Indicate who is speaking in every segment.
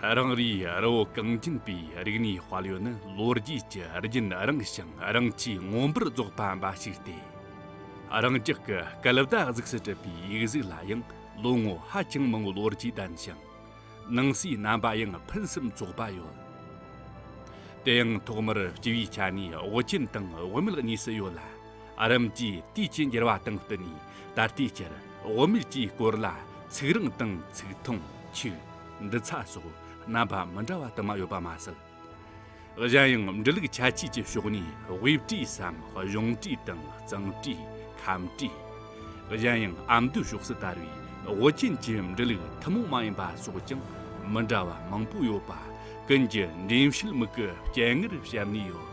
Speaker 1: རང་རེའི་རི་བོ་གངས་ཅན་པའི་རིག་གནས་དཔལ་ཡོན་ནི་ལོ་རྒྱུས་ཀྱི་རྒྱུན་རིང་ཞིང་རིང་ཆེས་མངོན་པར་རྫོགས་པ་འབའ་ཞིག་སྟེ། རང་ཅག་གི་སྐལ་བརྡ་གཟུགས་སུ་གྲུབ་པའི་ཡིག་གཟུགས་ལ་ཡང་ལོ་ངོ་ཧ་ཅང་མང་བོའི་ལོ་རྒྱུས་ལྡན་ཞིང། ནང་གསེས་རྣམ་པ་ཡང་ཕུན་སུམ་ཚོགས་པ་ཡོད་དེ། དེའང་ཐོག་མར་སྤྱི་བོའི་ཆ་ནས་དབུ་ཅན་དང་དབུ་མེད་གཉིས་སུ་ཡོད་ལ། རིམ་གྱིས་དུས་ཀྱི་འགྱུར་བ་དང་བསྟུན་ནས་ད་ལྟའི་ཆར་དབུ་མེད་ཀྱི་སྐོར་ལ་ཚིག་རིང་དང་ཚིག་ཐུང་ཆོས། འབྲི་ཚ་སོགས་རྣམ་པ་མི་འདྲ་བ་དུ་མ་ཡོད་པ་མ་ཟད། གཞན་ཡང་འབྲི་ལུགས་ཁྱད་ཆོས་ཀྱི་ཕྱོགས་ནས་དབྱིབས་བྲིས་སམ་གཞུང་བྲིས་དང་གཙང་བྲིས། ཁམས་བྲིས། གཞན་ཡང་ཨ་མདོའི་ཕྱོགས་སུ་དར་བའི་ཝུ་ཅན་གྱི་འབྲི་ལུགས་ཐུན་མོང་མ་ཡིན་པ་སོགས་ཀྱང་མི་འདྲ་བ་མང་པོ་ཡོད་པ་ཀུན་གྱི་འགྲེམས་བཤད་མིག་གི་སྤྱན་སྔར་བཤད་ནས་ཡོད།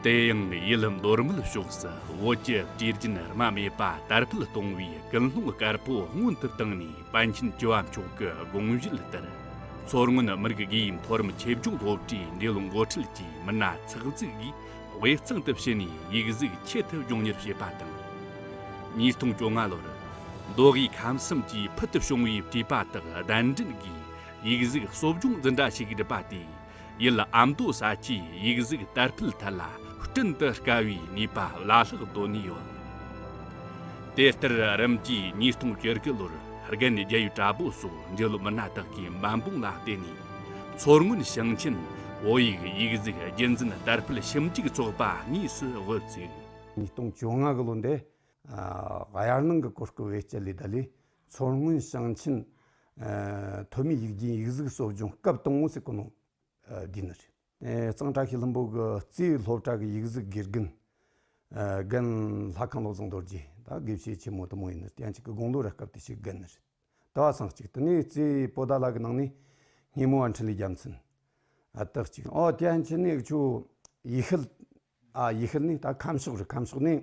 Speaker 1: དེ་ཡང་ཡུལ་མདོར་མོལ་ཕྱོགས་སུ་ཝུ་ཅན་བྲིས་རྒྱུན་རྨ་མེད་པ་དར་འཕེལ་གཏོང་བའི་ཀུན་སློང་དཀར་པོ་མངོན་དུ་བཏང་ནས། པཎ་ཆེན་བཅུ་བ་མཆོག་གི་དགོངས་བཞེད་ལྟར། མཚོ་སྔོན་མི་རིགས་དགེ་ཡིས་མཐོ་རིམ་ཆོས་ཕྱོགས་སློབ་གྲྭའི་འབྲི་ཀློག་མགོ་ཁྲིད་ཀྱི་མི་སྣ་ཚགས་བཙུགས་ཀྱིས་དབུས་གཙང་དུ་ཕྱིན་ནས་ཡིག་གཟུགས་ཆེད་དུ་སྦྱོང་གཉེར་བྱས་པ་དང། ཉིས་སྟོང་བཅོ་ལྔ་ལོར། མདོ་དབུས་ཁམས་གསུམ་གྱི་ཕུལ་དུ་བྱུང་བའི་བྲིས་པ་དག་གདན་འདྲེན་སྒོས་ཡིག་གཟུགས་གསོ་སྦྱོང་འཛིན་གྲྭ་ཞིག་བསྒྲུབས་པ་དེས། ཡུལ་ཨ་མདོ་ས་ཆའི་ཡིག་གཟུགས་དར་སྤེལ་ཐད་ལ་སྐྲུན་དུ་དཀའ་བའི་ནུས་པ་བླ་ལྷག་བཏོན་ནས་ཡོད། དེ་ལྟར་རིམ་གྱིས་ཉིས་སྟོང་བཅོ་དགུ་ལོར་རྒན་རྒྱལ་ཡུལ་གྲྭ་པོ་སོགས་འབྲི་ལོ་མི་སྣ་དག་གིས་འབད་འབུངས་ལ་བརྟེན་ནས་མཚོ་སྔོན་ཞིང་ཆེན་བོད་ཡིག་ཡིག་གཟུགས་རྒྱུན་འཛིན་དར་སྤེལ་ཞིབ་འཇུག་ཚོགས་པ་གཉིས་སུ་དབུ་བཙུགས། ཉིས་སྟོང་བཅོ་
Speaker 2: ལྔ་ལོ་འདས། དབྱར་གླིང་གི་གོ་སྐབས་བེད་སྤྱད་ལས་ད་ལོའི་མཚོ་སྔོན་ཞིང་ཆེན་ཐོན་མིའི་ཡིག་རྒྱུན་ཡིག་གཟུགས་གསོ་སྦྱོང་སྐབས་སྟོང་དངུལ་སྲིད་གོ་ནོར་བདུན་རེད། གཙང་བྲག་ཤེས་ལྷུན་པོ་གི་རྩིས་སློབ་གྲྭ་གི་ཡིག་གཟུགས་དགེ་རྒན། རྒན་ལྷ་ཁང་བློ་བཟང་རྡོ་རྗེ་དང་དགེ་བཤེས་ཆེན་མོ་དུ་མོ་ཡིན་ནོ་གཏན་གཅིག་གི་དགུང་ལོ་རེ་སྐབས་དེ་ཕྱིའི་རྒན་རེད། ཟླ་བ་སངས་གཅིག་དུ་ནས་རྩིས་སྤོ་ཟླ་ལག་གི་ནང་ནས་སྙེ་མོ་བ་འཕྲིན་ལས་རྒྱལ་མཚན་ལྟག་གཅིག། ཨོ་གཏན་གཅིག་ནས་ཆུ་ཡི་ཤུལ། ཡི་ཤུལ་ནས་ད་ཁམས་ཕྱོགས་རེད་ཁམས་ཕྱོགས་ནས།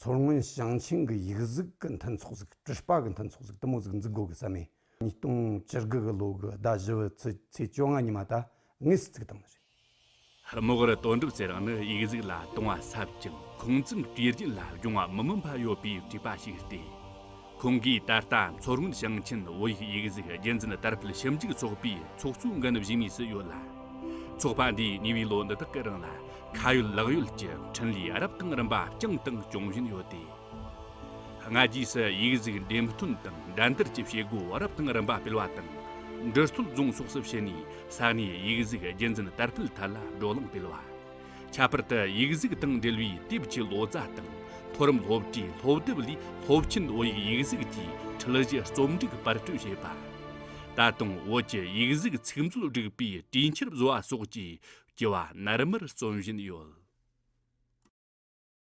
Speaker 2: མཚོ་སྔོན་ཞིང་ཆེན་གྱི་ཡིག་གཟུགས་ཀྱི་མཐུན་ཚོགས་གཟིགས་དྲི་ལྤགས་ཀྱི་མཐུན་ཚོགས་གཟིགས་གཏུམ་མོ་གཟིགས་འཛུགས་སྒོ་ཀྱི་ས་མེད། ཉིས་སྟོང་བཅུ་དགུ་གི་ལོ་དགུ་ཟླ་བཞི་བའི་ཚེས་ཚེས་བཅོ་ལྔ་ཉིན་མ་ད་ངེས་སུ་བརྩིགས་སྟངས་རེད། རྨོག་
Speaker 1: རུ་དོན་གྲུབ་ཚེ་རིང་ནི་ཡིག་གཟུགས་ལ་དུང་བ་ཟབ་ཅིང་ཁུངས་བཙུན་དུས་རྒྱུན་ལ་སྦྱོང་བ་མི་མངོན་པ་ཡོད་པའི་བྲིས་པ་ཞིག་སྟེ། ཁོང་གིས་ད་ལྟ་མཚོ་སྔོན་ཞིང་ཆེན་བོད་ཡིག་ཡིག་གཟུགས་རྒྱུན་འཛིན་དར་སྤེལ་ཞིབ་འཇུག་ཚོགས་པའི་ཚོགས་གཙོའི་འགན་བཞེས་མུས་སུ་ཡོད་ལ། ཚོགས་པ་འདིས་ཉེ་བའི་ལོ་འདི་དག་གི་རིང་ལ་ཁ་ཡོད་ལག་ཡོད་ཀྱི་འཕྲིན་ལས་རབ་དང་རིམ་པ་བསྐྱངས་དང་སྐྱོང་བཞིན་ཡོད་དེ། སྔ་རྗེས་སུ་ཡིག་གཟུགས་འགྲེམས་སྟོན་དང་འགྲན་བསྡུར་གྱི་བྱེད་སྒོ་རབ་དང་རིམ་པ་སྤེལ་བ་དང། འབྲི་སྟོད་རྫོང་སོགས་སུ་ཕྱིན་ནས་ས་གནས་ཡིག་གཟུགས་རྒྱུན་འཛིན་དར་སྤེལ་ཐད་ལ་བགྲོ་གླེང་སྤེལ་བ། ཁྱད་པར་དུ་ཡིག་གཟུགས་དང་འབྲེལ་བའི་དེབ་ཀྱི་ལོ་ཙཱ་དང་མཐོ་རིམ་སློབ་གྲྭའི་སློབ་དེབ་ལས་སློབ་ཆེན་བོད་ཡིག་ཡིག་གཟུགས་ཀྱི་ཁྲིད་གཞི་རྩོམ་སྒྲིག་དཔར་སྐྲུན་བྱས་པ། ད་དུང་བོད་ཀྱི་ཡིག་གཟུགས་ཚིག་མཛོད་སྒྲིག་པའི་དུས་འཁྱེར་བཟོ་བ་སོགས་ཀྱི་སྐྱེ་བ་ནར་མར་རྩོམ་བཞིན་ཡོད།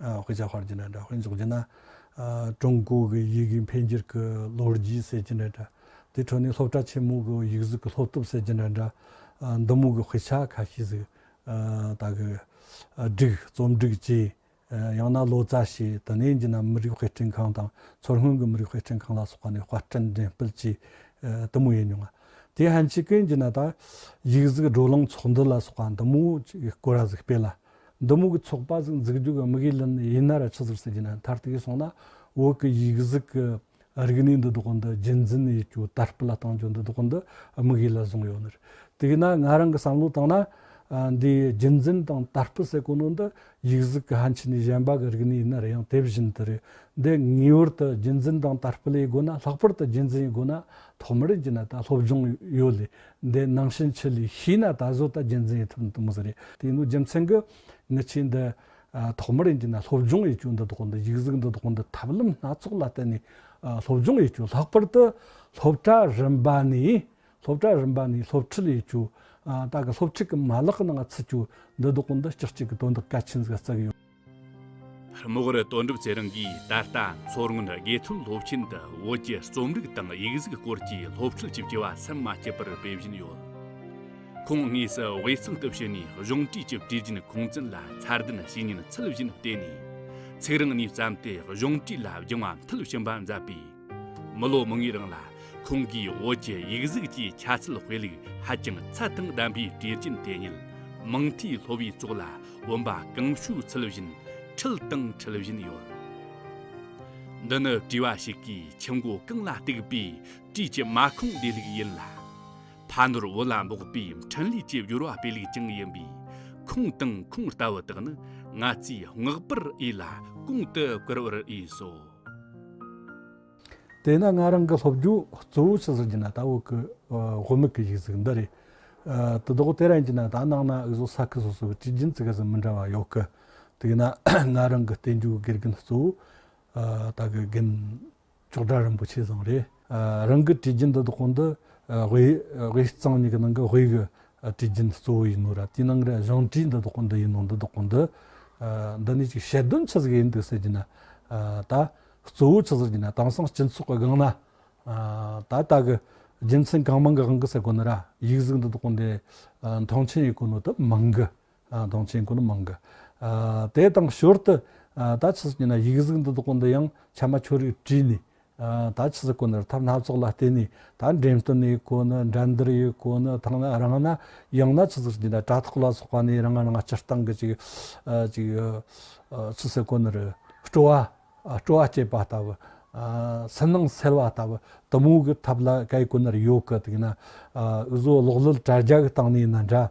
Speaker 3: དབུས་ཀྱི་ཧོར་གྱི་ནས་དབུས་འཛོགས་ཀྱི་ན། ཀྲུང་གོ་གི་ཡི་གེའི་འཕེལ་འགྱུར་གྱི་ལོ་རྒྱུས་ཟེར་གྱི་ནས། དེའི་ཁྲོད་ནས་སློབ་གྲྭ་ཆེན་མོ་གི་ཡིག་གཟུགས་ཀྱི་ལྷོ་གཏུབ་ཟེར་གྱི་ནས། མདུན་མོ་གི་དཔེ་ཆ་ཁ་ཤས་ཟིག་དག་གི། སྒྲིག། རྩོམ་སྒྲིག་བཅས། ཡང་ན་ལོ་ཙཱ་བྱས་དེ་ནས་འགྱིས་ན་མི་རིགས་དཔེ་སྐྲུན་ཁང་དང་མཚོ་སྔོན་གྱི་མི་རིགས་དཔེ་སྐྲུན་ཁང་ལ་སོགས་པ་ནས་དཔར་སྐྲུན་འགྲེམས་སྤེལ་བཅས་དུ་མོ་ཡོད་མྱོང། དེའི་ཧན་ཆི་ཀུན་གྱི་ནས་དང། ཡིག་གཟུགས་བགྲོ་གླེང་ཚོགས་འདུ་ལ་སོགས་པ་དུ་མོ་ཅིག་སྐོར་ར་ཟིག་སྤེལ། འདི་མོ་གི་ཚོགས་པ་ཟིག་འཛུགས་རྒྱུ་གི་དམིགས་ཡུལ་ནི་ཡིན་ན་ར་ཆི་ཟིག་ཟེར་གྱི་ན་མཐར་ཐུག་གིས་སོང་ན་འོག་གི་ཡིག་གཟུགས་ཀྱི་རིག་གནས་འདི་དོག་འདི་རྒྱུན་འཛིན་ཡིག་རྒྱུགས་དར་སྤེལ་ལ་གཏང་རྒྱུ་འདི་དོག་འདི་དམིགས་ཡུལ་ལ་བཟུང་ཡོད་ནི་དེས་ན་ང་རང་གི་བསམ་བློ་དང་ན་འདིའི་རྒྱུན་འཛིན་དང་དར་སྤེལ་སེ་གོ་ནོ་འདི་ཡིག་གཟུགས་ཀྱི་ཧན་ཆི་ནས་གཞན་པ་གི་རིག་གནས་ཡིན་ན་རེ་ཡང་དེ་བཞིན་དུ་རེད་འདི་ངེས་བར་དུ་རྒྱུན་འཛིན་དང་དར་སྤེལ་ཡི་སྒོ་ན་ལྷག་པར་དུ་རྒྱུན་འཛིན་ཡི་སྒོ་ན་ཐོག་མར་ཡིན་གྱི་ན་ད་སློབ་སྦྱོང་ཡོད་ལེ། འདི་སྣང་ཕྱིན་ཆད་ལས་ཤེས་ན་ད་གཟོད་ད་རྒྱུ་མཚན་ཡོད་ཐུབ་ནི་མི་ཟེར་རེད་དེ་ནི་རྒྱུ་མཚན་གི་མི་ཆེན་འདི་ཐོག་མར་ཡིན་གྱི་ན་སློབ་སྦྱོང་ཡི་གྱོ་འདི་དོག་འདི་ཡིག་གཟུགས་འདི་དོག་འདི་ཐབས་ལམ་སྣ་ཚོགས་ལ་བརྟེན་ནས་སློབ་སྦྱོང་ཡི་གྱོ་ལྷག་པར་དུ་སློབ་གྲྭ་རིམ་པ་ནས་སློབ་གྲྭ་རིམ་པ་ནས་སློབ་ཁྲིད་ཡི་གྱོ་ད་གི་སློབ་ཁྲིད་ཀྱི་མ་ལག་གི་ནང་ཚུད་གྱོ་འདི་དོག་འདི་སྤྱི་གཅིག་གི་དོན་དག་གལ་ཆེན་ཟིག་བརྩི་གི་ཡོད། རྨོག་
Speaker 1: རུ་དོན་གྲུབ་ཚེ་རིང་གིས་ད་ལྟ་མཚོ་སྔོན་དགེ་ཐོན་སློབ་ཆེན་དུ་བོད་ཀྱི་རྩོམ་རིག་དང་ཡིག་གཟུགས་སྐོར་གྱི་སློབ་ཁྲིད་ཅིག་བྱེད་པ་ཟམ་མ་ཆད་པར་སྤེལ་བཞིན་ཡོད། ཁོང་དངོས་སུ་དབུས་གཙང་དུ་ཕྱིན་ནས་གཞུང་འབྲེལ་གྱི་གྲོས་རྒྱུན་ཁུངས་བཙུན་ལ་མཚར་ལྡན་བྱས་ཉིན་ཚུལ་བཞིན་བལྟས་ནས་ཚིག་རིང་ནས་བརྩམས་ཏེ་གཞུང་འབྲེལ་ལ་སྦྱང་བ་མཐིལ་ཕྱིན་པ་མཛད་པས། མི་ལོ་མང་བའི་རིང་ལ་ཁོང་གིས་བོད་ཀྱི་ཡིག་གཟུགས་ཀྱི་ཁྱད་གསོད་དཔེ་ལུགས་ཧ་ཅང་ཚད་དང་ལྡན་པའི་གྲས་རྒྱུན་དེ་ཉིད་མིང་མཐའི་ལྷོ་བའི་ཙོག་ལ་བོན་པ་གང་ཞུགས་ཚུལ་བཞིན་ཁྲིད་དང་ཁྲིད་བཞིན་ཡོད། འདི་ནི་བྲིས་པ་ཞིག་གིས་ཁྱི་མགོ་རྐང་ལ་གཏུགས་པའི་བྲིས་ཀྱི་མ་ཁུངས་བདེ་ལུགས་ཡིན་ལ། ཕ་ནོར་བུ་ལ་འབོགས་པའི་འཕྲིན་ལས་ཀྱི་སྦྱོར་བ་དཔེ་ལུགས་ཀྱང་ཡིན་པས་ཁུངས་དང་ཁུངས་ལྟ་བུ་དག་ནི་ང་ཚོས་བསྔགས་པར་འོས་ལ་གོང་དུ་བཀུར་བར་འོས་སོ།
Speaker 3: དེས་ན་ང་རང་གི་སློབ་སྦྱོང་གཙོ་བོ་ཇི་ཟེར་གྱི་ན་ད་འོག་གི་དབུ་མེད་ཀྱི་གཞུག་ཚིག་འདི་རེད། དུ་བདོག་དེ་རང་གྱི་ན་ད་ནང་ན་འུ་ཟོ་ས་ཁུལ་སོ་སོ་གི་གྲི་རྒྱུན་ཚིག་ག་ཟེ་མི་འདྲ་བ་ཡོད་གི། དེས་ན་ང་རང་གི་བསྟན་བཅོས་ཀྱི་དགེ་རྒན་གཙོ་བོ་ད་གི་རྒན་མཆོག་གྲྭ་རིན་པོ་ཆེ་ཟང་རེད། རང་གི་དྲི་རྒྱུན་འདི་དག་གོང་དུ་དབྱིབས་གཙང་གཉིས་ཀྱི་ནང་གི་དབྱིབས་ཀྱི་དྲི་རྒྱུན་གཙོ་བོ་ཡིན་ནོ་ར་དེའི་ནང་གི་གཞུང་དྲི་འདི་དག་གོང་དུ་ཡིན་ནོ་འདི་དག་གོང་དུ། འདི་ནི་ཅིག་ཞལ་འདོན་ཆུ་ཟེར་ཡིན་འདུག་ཟེར་གྱི་ན། ད་གཙོ་བོ་ཆུ་ཟེར་གྱི་ན་དེང་སང་སྤྱི་ཚོགས་ཀྱི་སྒང་ན། ད་ལྟ་གི་རྒྱུ་མཚན་གང་མང་གི་དབང་གིས་སེ་གོ་ནི་ར་ཡིག་གཟུགས་འདི་དག་གོང་དུ་མཐོང་ཆེན་ཡོད་གོ་ནོ་དུ་མང་གི་གདོང་ཆེན་ཀུན་མང་གི། དེ་དང་ཞོར་དུ། ད་ཆུ་ཟིག་ཉིན་ན་ཡིག་གཟུགས་འདི་དག་པོ་འདི་ཡང་ཕྱ་མ་ཆོ་རིགས་བྲིས་ནས། ད་ཆུ་ཟིག་ཀུན་ནི་ཐབས་སྣ་ཚོགས་ལ་བརྟེན་ནས་ད་འགྲེམས་སྟོན་ཡིག་ཀུན་ནི་འགྲན་བསྡུར་ཡིག་ཀུན་ནི་ཐང་ན་རང་ན་ཡང་ན་ཆུ་ཟིག་ཉིན་ན་དྲ་ཐོག་ལ་སོགས་པ་ནས་རང་རང་སྤྱིར་བཏང་གི་ཅིག། ཅིག། ཆུ་ཟིག་ཀུན་ནི། སྤྲོ་བ། སྤྲོ་བ་བསྐྱེད་པ་ལྟ་བུ། སེམས་ནང་སེལ་བ་ལྟ་བུ་དུམ་བུ་གི་ཐབས་ལ་གལ་ཀུན་ནི་ཡོད་གི་འདུག་ན། འུ་བཟོ་ཀློག་ཀློད་དྲ་རྒྱ་གི་སྟེང་ནས་ནི་འདྲ།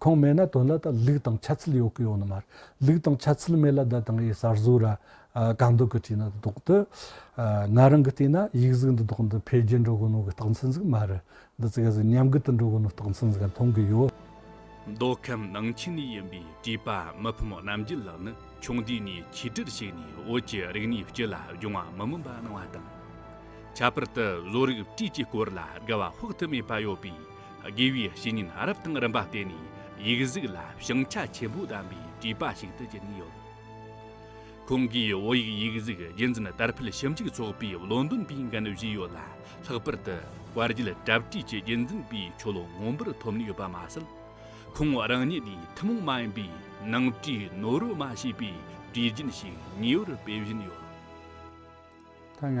Speaker 3: ཁོང་མེད་ན་དོན་ལ་ད་ལུགས་དང་ཆ་ཚུལ་ཡོད་གི་ཡོད་ནི་མ་རེད། ལུགས་དང་ཆ་ཚུལ་མེད་ལ་ད་དང་ཡི་གསར་བཟོ་ར་གང་འདོད་གི་བྲིས་ན་ད་དོག་དུ། ང་རང་གི་ལྟས་ན་ཡིག་གཟུགས་འདི་དག་འདི་འཕེལ་རྒྱས་འགྲོ་གི་ནོ་གི་རྟགས་མཚན་ཟིག་མ་རེད། འདི་ཚིག་གཟིགས་ཉམས་རྒུད་དུ་འགྲོ་གི་ནོ་རྟགས་མཚན་ཟིག་ག་མཐོང་གི་ཡོད། མདོ་
Speaker 1: ཁམས་ནང་ཆེན་ནས་ཡིན་པའི་བྲིས་པ་མི་ཕམ་རྣམ་རྒྱལ་ལགས་ནི་ཆུང་དུས་ནས་ཆིག་སྒྲིལ་བྱས་ནས་བོད་ཀྱི་རིག་གནས་སྤྱི་ལ་སྦྱོང་བ་མི་མངོན་པ་གནང་བ་དང། ཁྱད་པར་དུ་བཟོ་རིག་བྲིས་ཀྱི་སྐོར་ལ་དགའ་བ་དཔག་ཏུ་མེད་པ་ཡོད་པས་དགེ་བའི་བཤེས་གཉེན་རབ་དང་རིམ་པ་བརྟེན་ནས་ཡིག་གཟུགས་ལ་ཞིང་ཆ་ཆེན་པོ་བདམས་པའི་བྲིས་པ་ཞིག་ཏུ་གྱུར་ནས་ཡོད། ཁོང་གིས་བོད་ཡིག་ཡིག་གཟུགས་རྒྱུན་འཛིན་དར་འཕེལ་ཞིབ་འཇུག་ཚོགས་པའི་བློ་འདོན་པའི་འགན་བཞེས་ཡོད་ལ་ལྷག་པར་དུ་དཔལ་རྒྱུད་གྲབས་བཀྲིས་ཀྱི་རྒྱུན་འཛིན་པའི་ཆོ་ལོ་མངོན་པར་ཐོབ་ནས་ཡོད་པ་མ་ཟད། ཁོང་རང་ཉིད་ནས་ཐུན་མོང་མ་ཡིན་པའི་ནང་བྲིས་ནོར་རུ་མ་བྱས་པའི་བྲིས་རྒྱུན་ཞིག་ཉེ་བར་སྤེལ་བཞིན་ཡོད། ད་ང་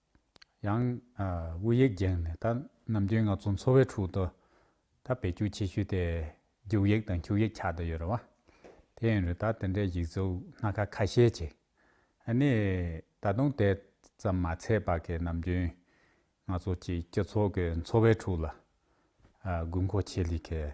Speaker 4: ཡང། དབུ་ཡིག་བརྒྱན་ནས་ད་ནམ་རྒྱུན་ང་ཚོ་འཚོ་བའི་ཁྲོད་དུ་ད་བེད་སྤྱོད་བྱེད་ཤུལ་དེ་རྒྱུག་ཡིག་དང་འཁྱུག་ཡིག་ཆགས་དུ་ཡོད་རེད་བ། དེ་ཡིན་རུང་ད་དེ་འདྲའི་ཡིག་གཟུགས་སྣ་ཁ་ཁ་ཤས་ཅིག་ཨ་ནི་ད་དུང་དེ་ཙམ་མ་ཚད་པ་གིས་ནམ་རྒྱུན་ང་ཚོ་གཅིག་སྤྱི་ཚོགས་ཀྱི་འཚོ་བའི་ཁྲོད་ལ་དགོས་མཁོ་ཆེ་ལེགས།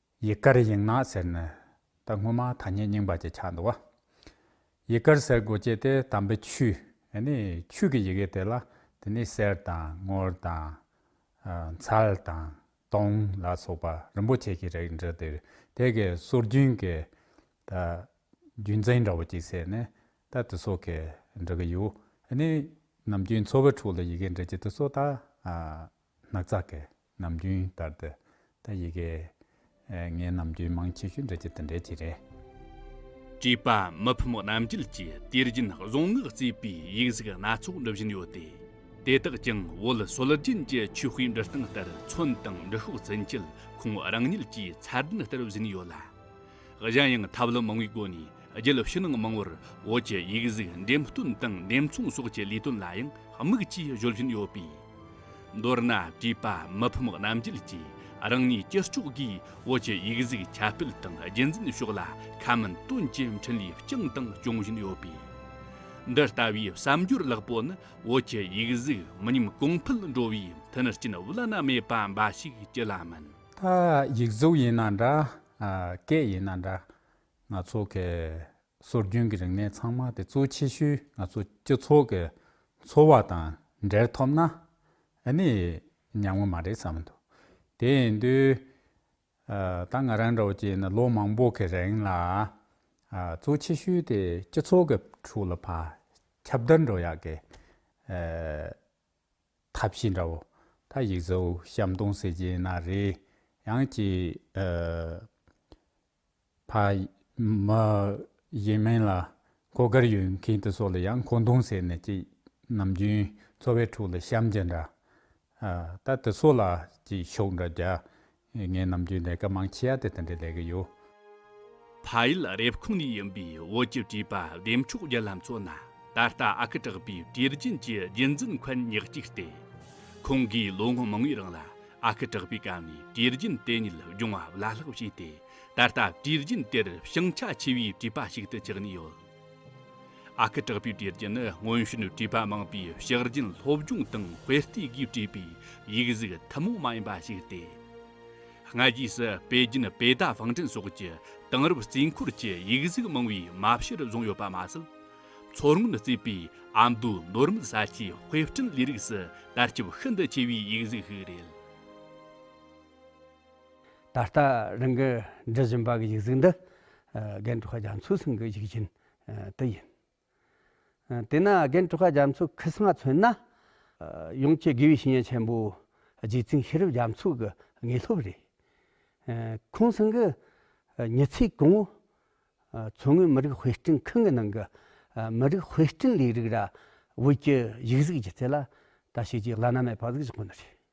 Speaker 4: ཡི་གར་ཡིག་ནག་ཟེར་ནི་ད་སྔོན་མ་ཐ་སྙད་རྙིང་པ་ཅིག་ཆགས་འདུག་བ། ཡི་གར་ཟེར་དགོས་སྐྱེས་དེ་དམ་པའི་ཆུ། ནི་ཆུ་གི་ཡི་གེ་དེ་ལ་དེ་ནི་གསེར་དང་དངུལ་དང། མཚལ་དང་དུང་ལ་སོགས་པ་རིན་པོ་ཆེ་གི་རིགས་འདྲི་དེ་དེ་གའི་སྲོལ་རྒྱུན་གྱི་ད་རྒྱུན་འཛིན་འདྲ་བོ་ཅིག་བྱས་ནས་ད་དེ་སོགས་གི་འདྲི་གི་ཡོད། ནི་ནམ་རྒྱུན་འཚོ་བའི་ཁྲོད་ལ་ཡི་གེ་འདྲི་རྒྱུ་དེ་སོགས་ད་ནག་ཚག་གི་ནམ་རྒྱུན་ལྟར་དུ་ད་ཡི་གེ། ངས་ནམ་རྒྱུན་མང་ཆེ་ཤོས་འབྲི་རྒྱུ་དེ་འགྲེལ་གྱི་རེད།
Speaker 1: བྲིས་པ་མི་ཕམ་རྣམ་རྒྱལ་གྱིས་དུས་རྒྱུན་གཟུངས་སྔགས་རྩིས་པའི་ཡིག་གཟུགས་སྣ་ཚོགས་འབྲི་བཞིན་ཡོད་དེ། དེ་དག་ཀྱང་བོད་སྲོལ་རྒྱུན་གྱི་ཆོས་སྤུས་འབྲི་སྟངས་ལྟར་མཚོན་དང་འབྲི་ཤོག་ཚུན་ཆད་ཁོང་རང་ཉིད་ཀྱིས་ཚར་གདན་བསྟར་བཞིན་ཡོད་ལ། གཞན་ཡང་ཐབས་ལམ་མང་བའི་སྒོ་ནས་རྒྱུད་ཕྱི་ནང་མང་བོར་བོད་ཀྱི་ཡིག་གཟུགས་འགྲེམས་སྟོན་དང་འགྲེམས་ཚོང་སོགས་ཀྱི་ལས་དོན་ལ་ཡང་དམིགས་ཀྱིས་གཞོལ་བཞིན་ཡོད་པས། མདོར་ན་བྲིས་པ་མི་ཕམ་རྣམ་རྒྱལ་གྱིས་རང་ཉིད་སྤྱི་ལྕོགས་སྒོས་བོད་ཀྱི་ཡིག་གཟུགས་ཁྱབ་སྤེལ་དང་རྒྱུན་འཛིན་ཕྱོགས་ལ་ཁ་སྨོན་སྟོན་གྱི་འཕྲིན་ལས་བསྐྱངས་དང་སྐྱོང་བཞིན་ཡོད་པས། འདི་ལྟ་བུའི་བསམ་སྦྱོར་ལེགས་པོ་ནི་བོད་ཀྱི་ཡིག་གཟུགས་མི་ཉམས་གོང་འཕེལ་འགྲོ་བའི་མཐུན་རྐྱེན་བླ་ན་མེད་པ་འབའ་ཞིག་ཅི་ལ་མིན། ད་ཡིག་
Speaker 4: གཟུགས་ཡིན་ན་འདྲ། སྐད་ཡིན་ན་འདྲ། ང་ཚོ་གི་སྲོལ་རྒྱུན་གྱི་རིག་གནས་ཚང་མ་དེ་གཙོ་ཆེ་ཤོས་ང་ཚོ་སྤྱི་ཚོགས་ཀྱི་འཚོ་བ་དང་འབྲེལ་ཐོབ་ན་ཨ་ནི་ཉམས་ངོ་མ་རེད་བསམ་མི་འདུག་དེ་ཡིན་དུས། ད་ང་རང་འདྲ་བོ་ཅིག་ཡིན་ན་ལོ་མང་པོ་གི་རིང་ལ་གཙོ་ཆེ་ཤོས་དེ་སྤྱི་ཚོགས་ཀྱི་ཁྲོད་ལ་ཕ་ཁྱབ་བརྡལ་འགྲོ་ཡག་གི། ཐབས་ཤེས་འདྲ་བོ། ད་ཡིག་བཟོ་བཤམས་སྟོང་ཟེར་གྱི་ཡིན་ན་རེད་ཡང་ཅི། ཕ། མ། ཡིན་མིན་ལ་གོ་དཀར་ཡོད་མཁན་དེ་ཚོ་ལ་ཡང་གོ་མདུང་ཟེར་ནས་ཅི། ནམ་རྒྱུན་འཚོ་བའི་ཁྲོད་ལ་བཤམས་རྒྱུ་འདྲ། ད་དེ་ཚོ་ལ་ཅི་ཤོག་འདྲ་རྒྱག་ངས་ནམ་རྒྱུན་ལས་ཀ་མང་ཆེ་ཡ་དེ་དང་འདྲེ་ལས་གི་ཡོད། ཕ་
Speaker 1: ཡུལ་རེབ་ཁུང་ནས་ཡིན་པའི་བོད་ཀྱི་བྲིས་པ་བདེ་མཆོག་རྒྱལ་ལ་མཚོན་ན་ད་ལྟ་ཨ་ཁུ་གྲགས་པའི་དུས་རྒྱུན་གྱི་རྒྱུན་འཛིན་འཁོན་ཉག་ཅིག་སྟེ། ཁོང་གིས་ལོ་ངོ་མང་བོའི་རིང་ལ་ཨ་ཁུ་གྲགས་པའི་སྐབས་ནས་དུས་རྒྱུན་དེ་ཉིད་སྦྱོང་བ་བླ་ལྷག་བྱས་ཏེ་ད་ལྟ་དུས་རྒྱུན་དེར་ཞེང་ཆ་ཆེ་བའི་བྲིས་པ་ཞིག་ཏུ་གྱུར་ནས་ཡོད། ཨ་ཁུ་དྲག་པོའི་གྲས་ཀྱི་ནི་སྔོན་བྱོན་བཀྲིས་པ་མང་པོས་ཕྱག་རྒྱུན་སློབ་སྦྱོང་དང་དཔེ་ལྟའི་སྒོས་བཀྲིས་པའི་ཡིག་གཟུགས་ཐུན་མོང་མ་ཡིན་པ་ཞིག་སྟེ། སྔ་རྗེས་སུ་པེ་ཅིན་པེ་རྟ་བང་སྒྲིག་སོགས་ཀྱི་དེང་རབས་རྩིས་འཁོར་གྱི་ཡིག་གཟུགས་མང་བོའི་མ་ཕྱིར་བཟུང་ཡོད་པ་མ་ཟད། མཚོ་སྔོན་བརྩིས་པའི་ཨ་མདོའི་ནོར་མེད་ས་ཆའི་དཔེ་སྐྲུན་ལས་རིགས་སུ་དར་ཁྱབ་ཤིན་ཏུ་ཆེ་བའི་ཡིག་གཟུགས་ཤིག་རེད། ད་ལྟ་
Speaker 2: རང་གིས་འབྲི་བཞིན་པའི་ཡིག་གཟུགས་འདི་རྒན་གྲོ་ག་རྒྱ་མཚོའི་གསུང་གི་ཡིག་རྒྱུན་དེ་ཡིན། དེས་ན་རྒན་གྲོ་ག་རྒྱ་མཚོའི་ཁི་སིམ་མ་མཚོན་ན། ཡོངས་ཀྱི་དགེ་བའི་བཤེས་གཉེན་ཆེན་པོའི་རྗེ་བཙུན་ཤེས་རབ་རྒྱ་མཚོ་གི་དངོས་སློབ་རེད། ཁོང་གསུང་གི་མྱི་ཚེའི་གོང་བུ། མཚོ་སྔོན་མི་རིགས་དཔེ་སྐྲུན་ཁང་གི་ནང་གི་མི་རིགས་དཔེ་སྐྲུན་ལས་རིགས་ར་བོད་ཀྱི་ཡིག་གཟུགས་ཀྱི་ཐད་ལ་ད་བྱས་རྗེས་བླ་ན་མེད་པ་ཟིག་བཞག་པ་འདི་རེད།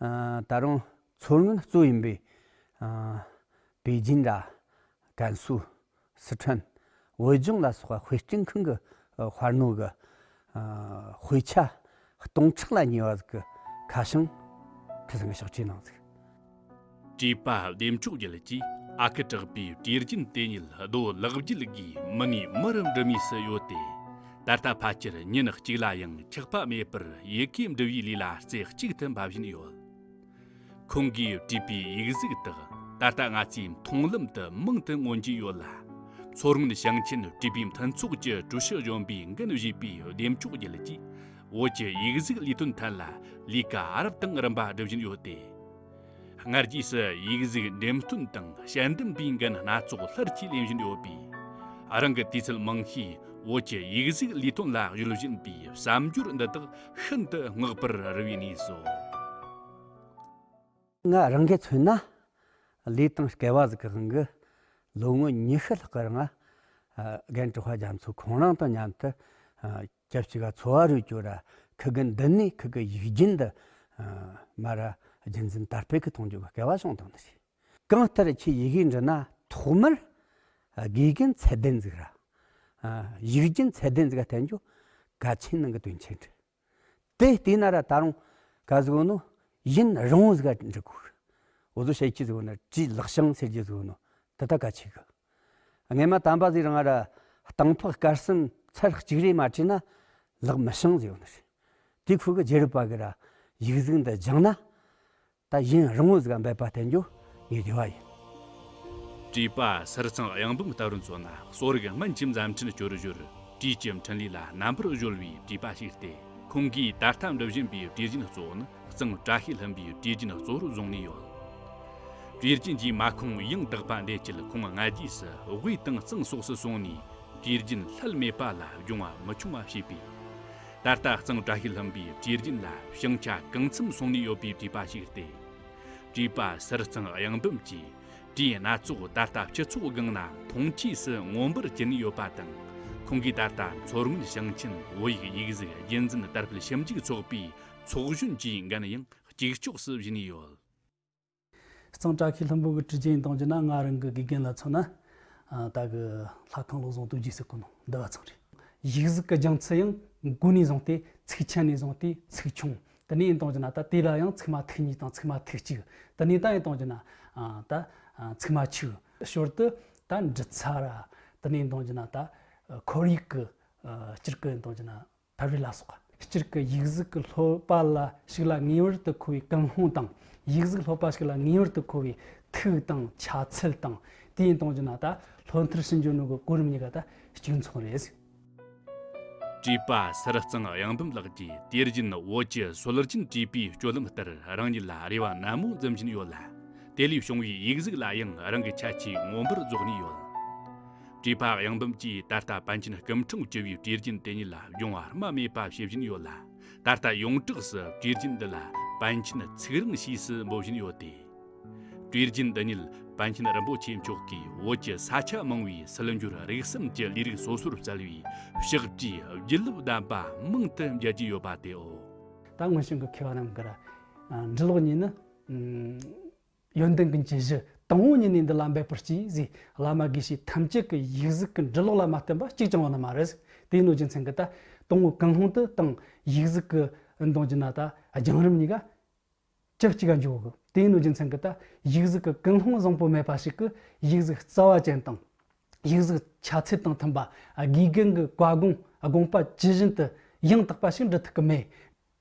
Speaker 2: ད་རུང་མཚོ་སྔོན་གཙོས་ཡིན་པའི་པེ་ཅིན་དང་ཀན་སུའུ། སི་ཁྲོན། བོད་ལྗོངས་ལ་སོགས་པ་དཔེ་སྐྲུན་ཁང་གི་དཔར་སྣོན་གྱི་དཔེ་ཆ་སྟོང་ཕྲག་ལ་ཉེ་བ་ཟིག་གི་ཁ་བྱང་ཁྲི་ཚང་གི་ཕྱག་བྲིས་གནང་ཟིག། བྲིས་
Speaker 1: པ་བདེ་མཆོག་རྒྱལ་གྱིས་ཨ་ཁུ་གྲགས་པའི་གྲེ་རྒྱུན་དེ་ཉིད་རྡོ་བརླག་རྒྱུད་དགོས་མི་ངའི་མི་རུ་འགྲུབ་ངེས་སུ་ཡོད་དེ། ད་ལྟ་ཕལ་ཆེར་ཉིན་གཅིག་ལ་ཡང་འཁྱག་པ་མེད་པར་ཡི་གེ་འབྲི་བའི་ལས་ལ་རྩེ་གཅིག་ཏུ་འབབ་བཞིན་ཡོད། ཁོང་གིས་བྲིས་པའི་ཡིག་གཟུགས་དག་ད་ལྟ་ང་ཚོའི་མཐོང་ལམ་དུ་མང་དུ་མངོན་གྱི་ཡོད་ལ། མཚོ་སྔོན་ཞིང་ཆེན་བྲིས་པའི་མཐུན་ཚོགས་ཀྱི་ཀྲུའུ་ཞི་གཞོན་པའི་འགན་བཞེས་པའི་འདེམས་ཆོག་རྒྱལ་གྱིས་བོད་ཀྱི་ཡིག་གཟུགས་ལས་དོན་ཐད་ལ་ལས་ཀ་རབ་དང་རིམ་པ་སྒྲུབ་བཞིན་ཡོད་དེ། སྔར་རྗེས་སུ་ཡིག་གཟུགས་འགྲེམས་སྟོན་དང་དཔྱད་འདེམས་པའི་འགན་སྣ་ཚོགས་སླར་གྱིས་ལེན་བཞིན་ཡོད་པས། རང་གི་དུས་ཚོད་མང་ཤོས་བོད་ཀྱི་ཡིག་གཟུགས་ལས་དོན་ལ་གཞོལ་བཞིན་པའི་བསམ་སྦྱོར་འདི་དག་ཤིན་ཏུ་བསྔགས་པར་རུང་བའི་གནས་སོ། ང་
Speaker 2: རང་གིས་མཚོན་ན་ལི་ཐང་བསྐལ་བ་ཟིག་གི་དབང་གིས་ལོ་ངོ་ཉི་ཤུ་ལྷག་གི་རིང་རྒན་གྲུ་བྷ་རྒྱ་མཚོས་ཁོང་རང་དང་མཉམ་དུ། སྐྱབས་གཅིག་ག་འཚོ་བ་རུ་གྱུར་ར་ཁི་གི་འདི་ནས་ཁི་གི་ཡིག་རྒྱུན་འདི་མ་ར་རྒྱུན་འཛིན་དར་སྤེལ་གི་མཐོང་རྒྱུ་གི་སྐལ་བ་བྱུང་དང་ནི། གང་ལྟར་ཁྱེད་ཡི་གེ་འབྲི་ན་ཐོག་མར་དགེ་གི་ཚད་ལྡན་འཛིག་ར། ཡིག་རྒྱུན་ཚད་ལྡན་འཛིག་ག་བསྟན་རྒྱུ་ག་ཆེན་ནང་གི་དོན་ཆེན་འདྲི། དེ་བལྟས་ན་ར་ད་རུང་ག་གཟིགས་བོ་ནོ་ཡིན་རང་བོ་གཟིག་ག་འདྲི་དགོས། འོ་བཟོ་བྱེད་ཀྱི་གཟིགས་བོ་ན་བྲིས་ལག་བྱང་ཟེར་གྱི་གཟིགས་བོ་ནོ་འདི་ད་ག་ཆེ་གི། རྔན་མ་དམ་པ་ཟིག་རང་ར་སྟང་ཕག་དཀར་གསུམ་ཚར་གཅིག་རེ་མ་བྲིས་ན་ལག་མི་བྱང་ཟེར་བ་ནི་དེ་ཁོ་གི་རྗེ་རུ་པ་གི་ར་ཡིག་གཟུགས་འདི་སྦྱང་ན་ད་གཞན་རི་ངོ་ཟིག་ག་འབད་པ་བསྟན་རྒྱུ་ངའི་བདེ་བ་ཡིན། བཀྲིས་
Speaker 1: པ་སེར་ཚང་གཡང་འབུམ་ལྟ་བུར་མཚོན་ན་གསོ་རིག་སྨན་གྱི་མཛའ་མཐུན་སྐྱོར་གཞིར་བཀྲིས་ཀྱི་འཕྲིན་ལས་ལ་རྣམ་པར་གཞོལ་བའི་བཀྲིས་པ་ཞིག་སྟེ་ཁོང་གིས་ད་ལྟ་འགྲུབ་བཞིན་པའི་བཀྲིས་རྒྱུན་གཙོ་བོ་ནི་གཙང་བཀྲ་ཤིས་ལྷུན་པོའི་གྲི་རྒྱུན་གཙོ་བོར་བཟུང་ནས་ཡོད། གྲི་རྒྱུན་གྱི་མངའ་ཁོངས་ཡང་དག་པ་འདེད་ཆེད་ཁོང་སྔ་རྗེས་སུ་དབུས་དང་གཙང་སོགས་སུ་སོང་ནས་གྲི་རྒྱུན་ལྷད་མེད་པ་ལ་སྦྱོང་བ་མི་ཆུང་བ་བྱས་པས། ད་ལྟ་གཙང་བཀྲ་ཤིས་ལྷུན་པོའི་གྲི་རྒྱུན་ལ་ཞིང་ཆ་གང་འཚམ་སོང་ནས་ཡོད་པའི་བྲིས་པ་ཞིག་སྟེ། བྲིས་པ་གསེར་གཙང་གཡང་འབུམ་གྱི་གྲི་སྣ་ཚོགས་ད་ལྟ་སྤྱི་ཚོགས་སྒང་ན་མཐོང་ཆོས་སུ་མངོན་པར་གྱུར་ནས་ཡོད་པ་དང། ཁོང་གིས་ད་ལྟ་མཚོ་སྔོན་ཞིང་ཆེན་བོད་ཡིག་ཡིག་གཟུགས་རྒྱུན་འཛིན་དར་སྤེལ་ཞིབ་འཇུག་ཚོགས་པའི་ཚོགས་གཞོན་གྱི་འགན་ཡང་གཅིག་ལྕོགས་སུ་བཞེས་ནས་ཡོད། གཙང་བཀྲ་ཤིས་ལྷུན་པོ་གྱི་གྲི་རྒྱན་གཏོང་རྒྱུ་ན་སྔ་རིང་གི་དགེ་རྒན་ལ་མཚོན་ན། ད་གི་ལྷ་ཁང་ལུགས་བཟང་དུ་རྒྱུགས་སའི་ཀུན་སློང་འདི་བ་ཚང་རེད། གཞིས་གཟིགས་ཀྱི་སྦྱང་ཚུལ་ཡང་མགོ་ནས་བཟུང་
Speaker 5: སྟེ་ཚིགས་ཆེན་ནས་བཟུང་སྟེ་ཚིགས་ཆུང་དུ་ནས་གཏོང་རྒྱུ་ན་ད་དེ་ལ་ཡང་ཚིགས་མ་ཐིག་གཉིས་དང་ཚིགས་མ་ཐིག་གཅིག་དུ་ནས་ད་ཡང་གཏོང་རྒྱུ་ན། ད་ཚིགས་མ་ཆིག་ཞོར་དུ་ད་འབྲི་ཚར་དུ་ནས་གཏོང་རྒྱུ་ན་ད་ཁོར་ཡུག་གི་སྤྱིར་ཀུན་གཏོང་རྒྱུ་ན། ཕ་བི་ལ་སོགས་སྤྱིར་གྱི་ཡིག་གཟུགས་ཀྱི་ལྷོད་པ་ལ་ཞིག་ལ་ངེས་པར་དུ་མཁོ་བའི་ཀུན་སློང་དང།
Speaker 1: ཡིག་གཟུགས་ལྷོད་པ་ཞིག་ལ་ངེས་པར་དུ་མཁོ་བའི་ཐིག་དང་ཆ་ཚད་དང། དེ་ཡིན་སྟོང་རྒྱུ་ན་ད་ལྷོད་མཐར་ཕྱིན་འཇོག་ནུས་པའི་གོ་རིམ་གཉིས་ཀ་ད་གཅིག་མཚུངས་རེད། བཀྲིས་པ་སེར་གཙང་གཡང་འདོམ་ལགས་ཀྱིས་དེ་བཞིན་བོད་ཀྱི་སྲོལ་རྒྱུན་བཀྲིས་པའི་སྤྱོད་ལམ་ལྟར་རང་ཉིད་ལ་རེ་བ་ནན་མོ་འཛིན་བཞིན་ཡོད་ལ། དེ་ལས་བྱུང་བའི་ཡིག་གཟུགས་ལ་ཡང་རང་གི་ཁྱད་ཆོས་མངོན་པར་རྫོགས་ནས་ཡོད། བཀྲུས་པ་གཡང་འབུམ་གྱིས་ད་ལྟ་པཎ་ཆེན་སྐུ་འཁྲུངས་བཅུ་བའི་བཀྲིས་རྒྱུན་དེ་ཉིད་ལ་སྦྱོང་བར་རྨ་མེད་པ་བྱེད་བཞིན་ཡོད་ལ། ད་ལྟ་ཡོངས་གྲགས་སུ་བཀྲིས་རྒྱུན་འདི་ལ་པཎ་ཆེན་ཚིག་རིང་ཞེས་སུ་འབོད་བཞིན་ཡོད་དེ། བཀྲིས་རྒྱུན་འདི་ཉིད་པཎ་ཆེན་རིན་པོ་ཆེ་མཆོག་གིས་བོད་ཀྱི་ས་ཆ་མང་བའི་སིལ་འབྱོར་རིག་གསུམ་གྱི་ལས་རིགས་སོ་སོར་བསྩལ་བའི་གཤེགས་བཀྲིས་བརྒྱུད་ལུགས་བདམས་པ་མང་དུ་མཇལ་གྱི་ཡོད་པ་དེའོ། ད་སྔོན་བྱུང་གི་
Speaker 5: མཁས་པ་རྣམས་ཀྱི་འབྲི་ཀློག་གཉིས་ནི། ཡོན་ཏན་ཀུན་གྱི་གཞི། དང་བོ་ཉིད་ནས་འདི་ལ་འབད་པར་གྱིས་གཟིགས། བླ་མ་དགེ་བཤེས་ཐམས་ཅད་ཀྱི་ཡིག་གཟུགས་ཀྱི་འབྲི་ཀློག་ལ་མ་བརྟེན་པ་གཅིག་ཀྱང་ཡོད་ན་མ་རེད། དེའི་གནོད་སྦྱིན་མཚན་གྱི་ད། དང་བོ་ཀུན་སློང་དུ་བཏང། ཡིག་གཟུགས་ཀྱི། མདོང་གྱི་ན་ད། རྒྱང་རིང་གཉིས་ཀ། ཅི་གཅིག་ག་འཇོག་གི། དེའི་གནོད་སྦྱིན་མཚན་གྱི་ད། ཡིག་གཟུགས་ཀྱི་ཀུན་སློང་བཟང་པོ་མེད་པ་ཞིག་གི། ཡིག་གཟུགས་རྩ་བ་ཅན་དང། ཡིག་གཟུགས་ཆ་ཚད་དང་མཐུན་པ། དགེ་རྒན་གྱི་བཀའ་དགོངས་དགོངས་པ་ཇི་བཞིན་དུ། ཡང་དག་པ་ཞིག་འབྲི་ཐུབ་ཀྱི་མེད།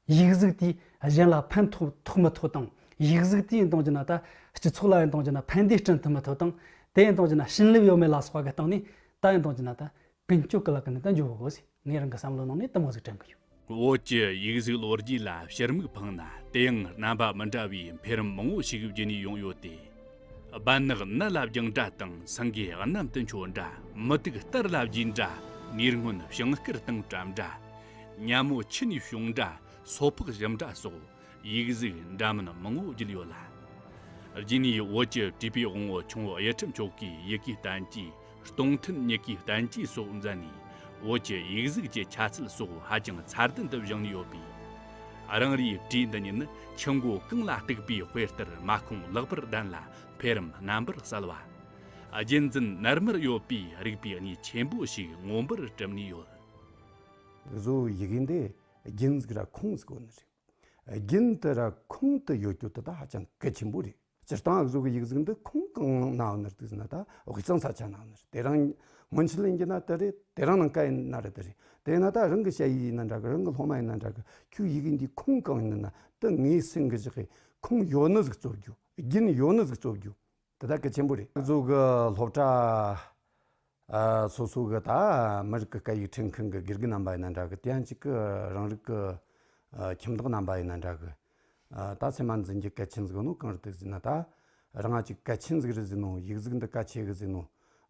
Speaker 5: ཡིག་གཟུགས་དེས་གཞན་ལ་ཕན་ཐོགས་ཐོགས་མི་ཐོགས་དང་ཡིག་གཟུགས་དེས་འདང་རྒྱུ་ན་ད་སྤྱི་ཚོགས་ལ་ཡང་འདང་རྒྱུ་ན་ཕན་བདེ་སྐྲུན་ཐུབ་མི་ཐུབ་དང་དེས་འདང་རྒྱུ་ན་བྱིན་རླབས་ཡོད་མེད་ལ་སོགས་ཀྱི་སྟེང་ནས་ད་ཡང་འདང་རྒྱུ་ན་ད་ཀུན་སྤྱོད་ཀྱི་ལག་གི་ནང་དུ་འཇུག་དགོས་ཞེས་ངས་རང་གི་བསམ་བློའི་ནང་ནས་གཏི་མུག་ཟིག་དྲན་གྱི་ཡོད། བོད་ཀྱི་ཡིག་
Speaker 1: གཟུགས་ལོ་རྒྱུས་ལ་ཕྱིར་མིག་འཕངས་ན་དེ་ཡང་རྣམ་པ་མི་འདྲ་བའི་འཕེལ་རིམ་མང་བོ་ཞིག་བརྒྱུད་ནས་ཡོང་ཡོད་དེ། སྦལ་ནག་ནི་བླ་རྒྱང་འདྲ་དང་སེང་གེ་གནམ་དུ་འཕྱོ་འདྲ། མུ་ཏིག་སྟར་བླ་རྒྱུད་འདྲ། ཉེར་སྔོན་ཞིང་སྐེར་དང་བྲམ་འདྲ། གཉའ་མོ་ཕྱི་ནས་བྱུང་འདྲ། སོ་ཕག་ཞིམ་འདྲ་སོགས་ཡིག་གཟུགས་འདྲ་མིན་མང་བོ་བརྒྱུད་ཡོད་ལ། རྒྱུད་ནས་འོད་ཀྱི་བྲིས་པའི་དབང་བོ་ཆུང་བ་གཡས་ཁྲི་མཆོག་གི་ཡི་གེའི་གདན་གྱི་གཏོང་མཐུན་མྱུ་གུའི་བསྟན་བཅོས་སོགས་མཛད་ནས་བོད་ཀྱི་ཡིག་གཟུགས་ཀྱི་ཆ་ཚད་སོགས་ཧ་ཅང་མཚར་ལྡན་དུ་བཞེངས་ཡོད་པས། རང་རེའི་བྲིས་འདི་ཉིད་ནི་ཆུ་མགོ་རྐང་ལ་གཏུགས་པའི་དཔེ་ལྟར་མ་ཁུངས་ལེགས་པར་ལྡན་ལ་འཕེལ་རིམ་རྣམ་པར་གསལ་བ། རྒྱུན་འཛིན་ནར་མར་ཡོད་པས་རིགས་པའི་གནས་ཆེན་པོ་ཞིག་མངོན་པར་གྲུབ་ནས་ཡོད།
Speaker 2: བཟོ་བོའི་ཡི་གེ་འདི་རྒྱུན་གཟིགས་ར་ཁུངས་སུ་བཀོད་ནི་རེད། རྒྱུན་དུ་ར་ཁུངས་དུ་ཡོད་རྒྱུ་དེ་དག་ཧ་ཅང་གལ་ཆེན་པོ་རེད། སྤྱིར་བཏང་ཨུ་ཚུགས་ཀྱི་ཡིག་གཟུགས་འདི་ཁོང་གང་ནང་ན་འདུག་ཟེར་ན་ད་འོ་ཁྱང་ཚ་ཆ་ནང་ནས་དེ་རང་སྔོན་ཕྱི་གླིང་གི་ན་དེ་རེད་དེ་རང་ནང་ཀ་ཡི་ན་རེད་དེ་རེད་དེ་ཡིན་ན་ད་རང་གི་ཤ་ཡིག་ཡིན་ན་འདྲ་གི་རང་གི་སློབ་མ་ཡིན་ན་འདྲ་གི་ཁྱོད་ཡི་གེ་འདི་ཁོང་གང་ཡིན་ན་དེ་ངའི་སེམས་ཀྱི་གཞི་གི་ཁོང་ཡོ་ནུས་ཀྱི་རྩོད་རྒྱུ་རྒྱུན་ཡོ་ནུས་ཀྱི་རྩོད་རྒྱུ་དེ་དག་གལ་ཆེན་པོ་རེད། ཨུ་ཚུགས་ཀྱི་སློབ་གྲྭ། སོ་སོ་གི་ད་མི་རིགས་ཀྱི་སྐད་ཡིག་ཁྲིད་མཁན་གྱི་དགེ་རྒན་རྣམ་པ་ཡིན་ན་འདྲ་གི་དེ་ཡང་གཅིག་གི་རང་རིགས་ཀྱི་ཁྱིམ་བདག་རྣམ་པ་ཡིན་ན་འདྲ་གི། ད་ཚད་མ་འཛིན་གྱི་སྐད་ཆ་འཛིན་ནོ་གང་རེད་འདུག་ཟེར་ན་ད་རང་ང་ཅིག་སྐད་ཆ་འཛིན་རེད་ཟེར་ནོ་ཡིག་གཟུགས་འདི་ག་ཆེ་གི་ཟེར་ནོ།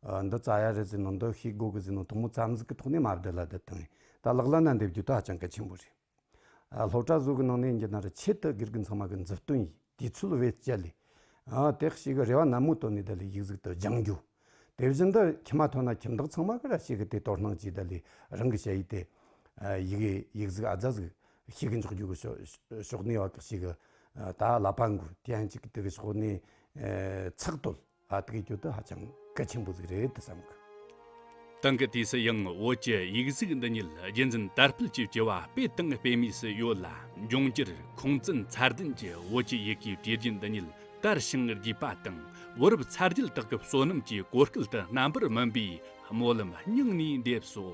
Speaker 2: འདི་རྩ་ཡག་རེད་ཟེར་ནོ་འདི་ཤེས་དགོས་གི་ཟེར་ནོ་དོ་མོ་རྩ་འཛུགས་ཀྱི་ཐོག་ནས་མ་བསྡད་ལ་འདི་དང་ཡིན་ད་ལག་ལ་ན་འདེབས་རྒྱུ་ད་ཧ་ཅང་གལ་ཆེན་པོ་རེད། སློབ་གྲྭ་གཟུགས་ཀྱི་ནང་ནས་འགྱེལ་ན་ར་ཆེ་སྟག་སྒེར་གྱི་མཚང་མ་གི་མཛུབ་སྟོན་ཡིས་དུས་ཚོད་བེད་སྤྱད་ལས། སྟག་ཤི་གི་རེ་བ་ནན་མོ་བཏོན་ནས་དེ་ལས་ཡིག་གཟུགས་དུ་སྦྱང་རྒྱུ། དེ་བཞིན་དུ་ཁྱིམ་མ་ཐོན་ན་ཁྱིམ་བདག་ཚང་མ་གི་ར་ཆེ་གི་དེ་དོར་སྣང་གྱིས་དེ་ལས་རང་གི་བྱ་ཡིག་དེ། ཡི་གེ་ཡིག་གཟུགས་ཨ་རྫ་གཟུགས་ཤིག་གི་འཇོག་རྒྱུ་གི་ཕྱོགས་གནས་བ་གེགས་ཤིག་གི། ད་ལ་པ་འགུ་དེ་ཡང་གཅིག་གི་དེ་གི་ཕྱོགས་གནས། ཚགས་དོད། ཨ་ཏི་ཀའི་གྱོད་དུ་ཧ་ཅང་གལ་ཆེན་པོ་ཟིག་རེད་དུ་བསམ་གི། ཏང་གི་
Speaker 1: དུས་སུ་ཡང་བོད་ཀྱི་ཡིག་གཟུགས་འདི་ཉིད་རྒྱུན་འཛིན་དར་སྤེལ་གྱི་སྐྱེ་བ་སྤེལ་སྟངས་སྤེལ་མུས་སུ་ཡོད་ལ་འབྱུང་འགྱུར་ཁུངས་བཙུན་མཚར་ལྡན་གྱི་བོད་ཀྱི་ཡི་གེའི་གྲས་རྒྱུན་འདི་ཉིད་དར་ཞིང་རྒྱས་པ་དང་བུ་རབས་ཚ་རྒྱུད་དག་གི་བསོད་ནམས་ཀྱི་གོ་སྐལ་དུ་རྣམ་པར་སྨིན་པའི་སྨོན་ལམ་སྙིང་ནས་འདེབས་སོ།